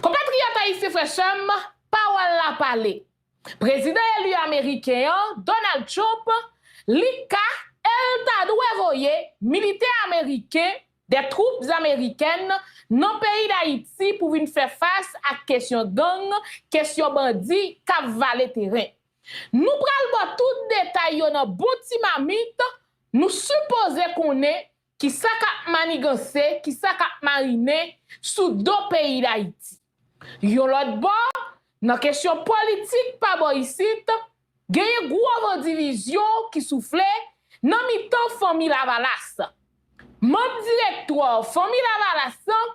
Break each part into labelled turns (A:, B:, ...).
A: Konpatriyòt ayisyen frè sè m, pawòl la pale! Prezidan eli ameriken an, Donald Trump, li ka e l ta dwe voye militè ameriken, des troupes américaines, nan peyi Dayiti pou vin fè fas ak kesyon gang, kesyon bandi k ap vale teren. Nou pral ba w tout detay yo nan bon ti mamit, nou sipoze konnen Kisa kap maniganse, kisa kap marinen sou do peyi Dayiti? Yon lòt bò, nan kesyon politik pa bò isit, genyen gwo van divizyon ki soufle nan mitan Fanmi Lavalas. Manm direktwò Fanmi Lavalas lan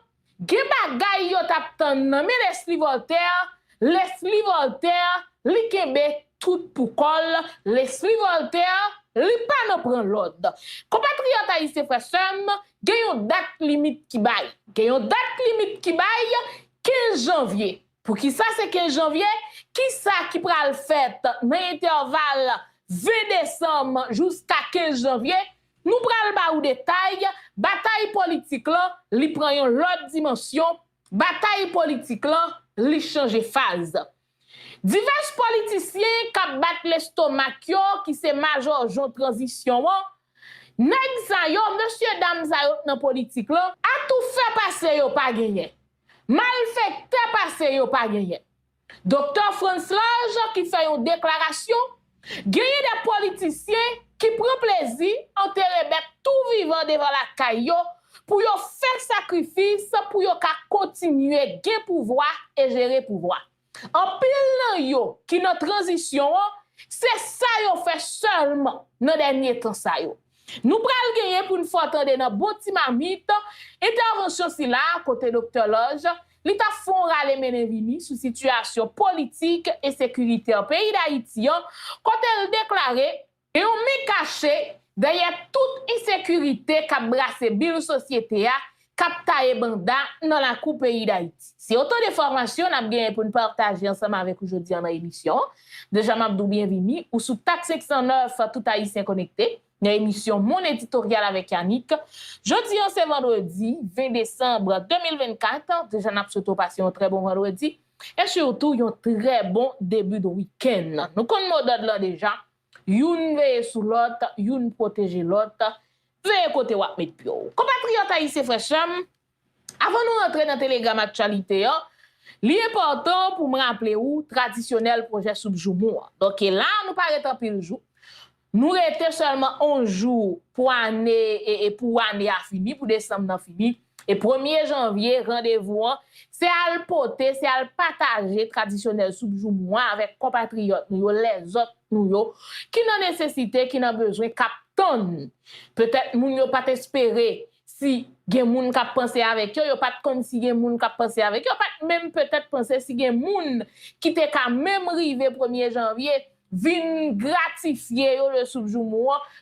A: Gen bagay yo tap tann nan men Leslie Voltaire, Leslie Voltaire, li kenbe tout pou kò l, Leslie Voltaire, li pa nan pran lòd. Konpatriyòt ayisyen frè sè m, gen yon dat limit ki bay. Gen yon dat limit ki bay, 15 janvye. Poukisa se 15 janvye? Kisa ki pral fèt nan entèval 20 desanm jouska 15 janvye? Nou pral ba ou detay, batay politik lan, li pran yon lòt dimansyon, batay politik lan, li chanje faz. Divès politisyen k ap bat lestomak yo, ki se majòjon tranzisyon an, nèg sa yo, mesye dam sa yo k nan politik lan, atoufè pase yo pa genyen, malfèktè pase yo pa genyen, Doktè Frantzlaj ki fè yon deklarasyon, Genyen de politisyen ki pran plezi antere bèt tou vivan devan lakay yo pou yo fè sakrifis pou yo ka kontinye gen pouvwa e jere pouvwa. Anpil nan yo ki nan tranzisyon an, se sa yo fè sèlman nan dènye tan sa yo. Nou pral genyen pou n fè w tande nan bon ti mamit, entèvansyon sila a kote Doktè Lòj, li t ap fè yon rale mennen vini sou sitiyasyon politik e sekiritè peyi Dayiti an, kote l deklare, gen yon men kache dèyè tout ensekirite k ap brase bil sosyete a, k ap taye banda nan lakou peyi Dayiti. Se otan de enfòmasyon n ap genyen pou n pataje ansanm avèk ou jodi an nan emisyon an. Deja m ap di w byenvini, ou sou tak 509 Tout Ayisyen Konekte, nan emisyon Moun Editoryal avèk Yanick. Jodi an se vandredi 20 desanm 2024, deja n ap swete w pase yon trè bon vandredi e sitou yon trè bon debut de wikenn. Nou konn modòd lan deja, Youn veye sou lòt, youn pwoteje lòt, veye kote w ap met pye w. Konpatriyòt ayisyen frè sè m, avan nou rantre nan telegram aktyalite an, li enpòtan pou m raple ou tradisyonèl pwojè soup joumou an. Donk e la a nou pa ret anpil jou, nou rete sèlman 11 jou pou ane e pou ane a fini, pou desanm nan fini. E premye janvye, randevou an, se al pote, se al pataje tradisyonèl soup joumou an avèk konpatriyòt nou yo, lèzòt nou yo, ki nan nesesite, ki nan bezwen, k ap tann. Petèt moun yo pa t espere si gen moun k ap panse avèk yo, yo pa t konn si gen moun k ap panse avèk yo, yo pa t menm petèt panse si gen moun ki te ka menm rive premye janvye vin gratifye yo de soup joumou an,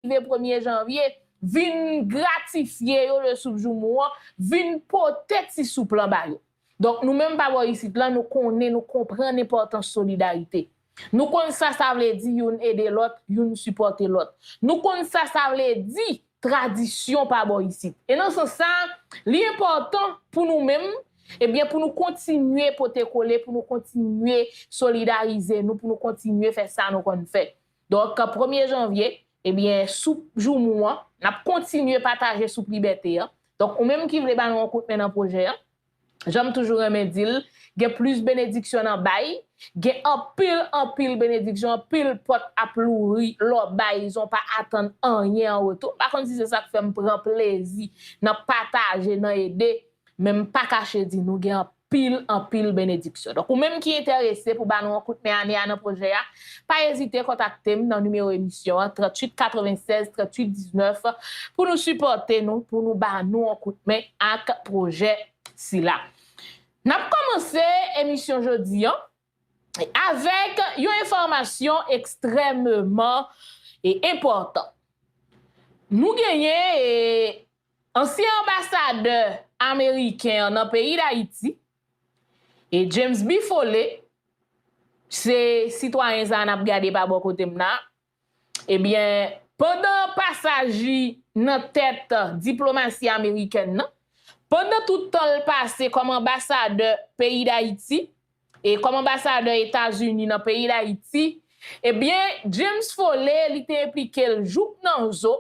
A: Rive premye janvye, vin gratifye yo le soup joumou an, vin pote ti soup lan ba yo. Donk nou menm pa bò isit lan, nou konnen, nou konprann enpòtans solidarite. Nou konn sa sa vle di youn ede lòt, youn sipòte lòt. Nou konn sa sa vle di tradisyon pa bò isit. E nan sans sa, li enpòtan pou nou menm, ebyen pou nou kontinye pote kole, pou nou kontinye solidarize nou, pou nou kontinye fè sa nou konn fè. Donk, premye janvye, ebyen soup joumou an, n ap kontinye pataje soup libète an. Donk, ou menm ki vle ba nou yon kout men nan pwojè an, Jan m toujou renmen di l, gen plis benediksyon nan bay, gen anpil anpil benediksyon, anpil pòt ap louvri lè w bay san w pa atann anyen an retou. M pa konn si se sa k fè m pran plezi nan pataje, nan ede, men m pa kache di nou gen anpil anpil benediksyon. Donk ou menm ki enterese pou ba nou yon kout men ane a nan pwojè a, Pa ezite kontakte m nan nimewo emisyon an 38 96 38 19 pou nou sipòte nou, pou nou ba nou yon kout men ak pwojè sila. N ap kòmanse emisyon jodi an avèk yon enfòmasyon ekstrèmeman enpòtan. Nou genyen ansyen anbasadè ameriken an nan peyi Dayiti, E James B. Foley, se sitwayen sa a n ap gade pa bò kote m la, ebyen, pandan pasaj li nan tèt diplomasi amerikèn nan, pandan tout tan l pase kòm anbasadè peyi Dayiti, e kòm anbasadè Etazini nan peyi Dayiti, ebyen, James Foley li te enplike l jouk nan zo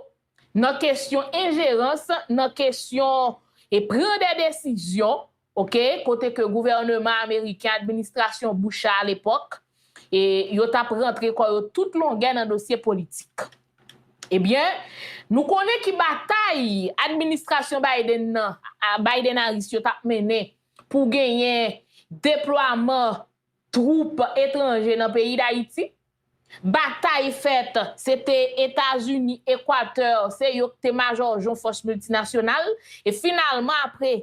A: nan kesyon enjerans, nan kesyon e pran dè desizyon Ok, kote ke gouvèneman ameriken, administrasyon Bush a alepòk, e yo t ap rantre kò yo tout longè nan dosye politik. Ebyen, nou konnen ki batay administrasyon Biden nan, Biden-Harris yo t ap mennen pou genyen deplwaman twoup etranje nan peyi Dayiti, batay fèt se te Etazini, Ekwatè, se yo k te majòjon fòs miltinasyonal, e finalman apre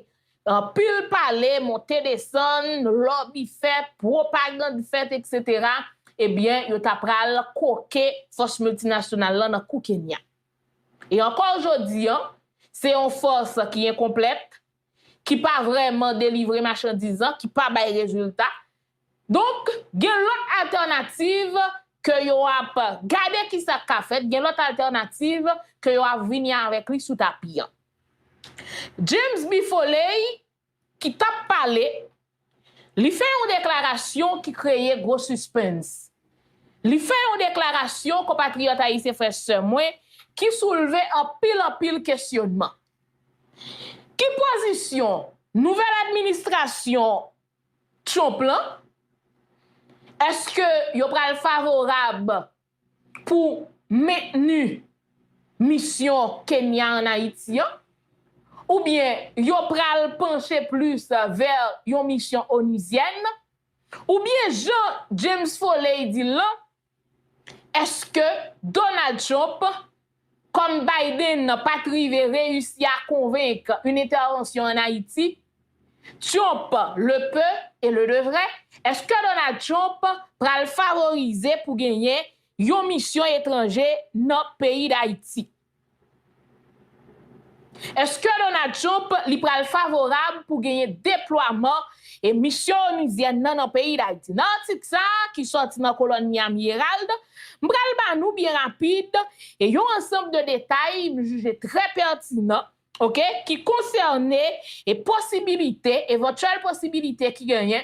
A: anpil pale, monte desann, lòbi fèt, pwopagand fèt eksetera, ebyen yo ta pral koke fòs miltinasyonal lan nan kou Kenya. E ankò jodi an, se yon fòs ki enkonplèt, ki pa vrèman delivre machandiz lan, ki pa bay rezilta. Donk, gen lòt altènativ ke yo ap gade ki sa k ka fèt, gen lòt altènativ ke yo ap vini avèk li sou tapi an. James B. Foley, ki t ap pale Li fè yon deklarasyon ki kreye gwo sispens. Li fè yon deklarasyon, konpatriyòt ayisyen frè sè mwen, ki soulve anpil anpil kesyonman. Ki pozisyon nouvèl administrasyon Trump lan? Eske yo pral favorab pou mentni misyon Kenya an Ayiti an, oubyen yo pral panche plis vè yon misyon onuzyèn, oubyen jan James Foley di l lan, èske Donald Trump Kòm Biden pa t rive reyisi a konvenk yn entèvansyon an Ayiti, Tyonp, le pe e le devre, èske Donald Tyonp pral favorize pou genyen yon misyon etranje nan peyi Dayiti? Eske Donald Trump li pral favorab pou genyen deplwaman e misyon onuzyèn nan nan peyi Dayiti? Nan atik sa a ki sòti nan kolòn Miami Herald, m pral ba nou byen rapid e yon ansanb de detay m jije trè pètinan ok ki konsène e posibilite, evantyèl posibilite ki genyen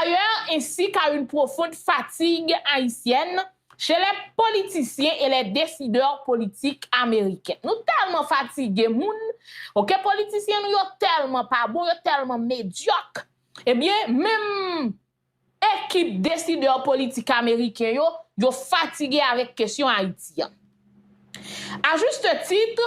A: Ailleurs ainsi qu'à une profonde fatigue haïtienne chez les politiciens et les décideurs politiques américains. Nou tèlman fatige moun, ok politisyen nou yo tèlman pa bon, yo tèlman medyòk, ebyen menm ekip desidè politik ameriken yo, yo fatige avèk kesyon Ayiti an. A juste titre,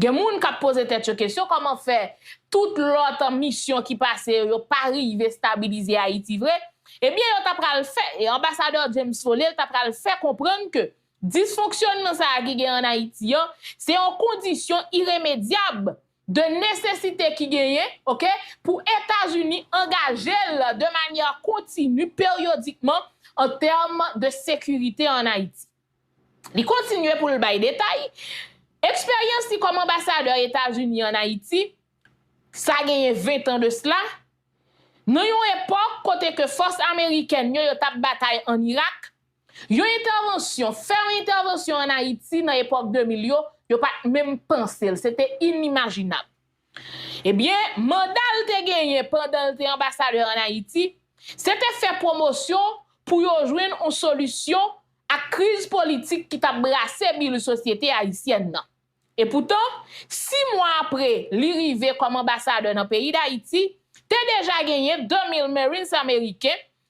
A: Gen moun k ap poze tèt yo kesyon kòman fè tout lòt misyon ki pase yo, yo pa rive stabilize Ayiti vre? Ebyen yo ta pral fè, e anbasadè James Foley ta pral fè konprann ke disfonksyònman sa a ki gen an Ayiti an, se yon kondisyon iremedyab de nesesite ki genyen, ok, pou Etazini angaje l de manyè kontini, peryodikman, an tèm de sekirite an Ayiti. Li kontinye pou l bay detay, Eksperyans li kòm anbasadè Etazini ann Ayiti, sa genyen ventan de sla, nan yon epòk kote ke fòs amerikèn yo yo t ap batay ann Irak, yon entèvansyon, fè yon entèvansyon ann Ayiti nan epòk 2000 yo, yo pa t menm panse l, se te inimajinab. Ebyen, manda l te genyen pandan l te anbasadè an Ayiti, se te fè pwomosyon pou yo jwenn on solisyon ak kriz politik ki t ap brase bil sosyete ayisyèn nan. Epoutan, si mwa apre li rive kòm anbasadè nan peyi Dayiti, te deja genyen 2 mil Marines ameriken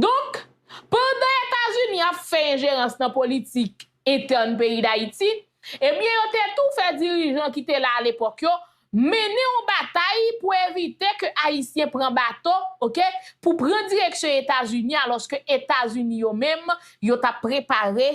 A: Donk, pandan Etazini ap fè enjerans nan politik entèn peyi Dayiti, ebyen yo te tou fè dirijan ki te la alepòk yo mennen yon batay pou evite ke Ayisyen pran bato, ok, pou pran direksyon Etazini alòske Etazini yo menm yo t ap prepare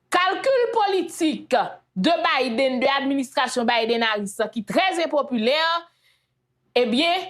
A: Kalkil politik de Biden, de administrasyon Biden-Harris lan ki trè enpopilè, ebyen,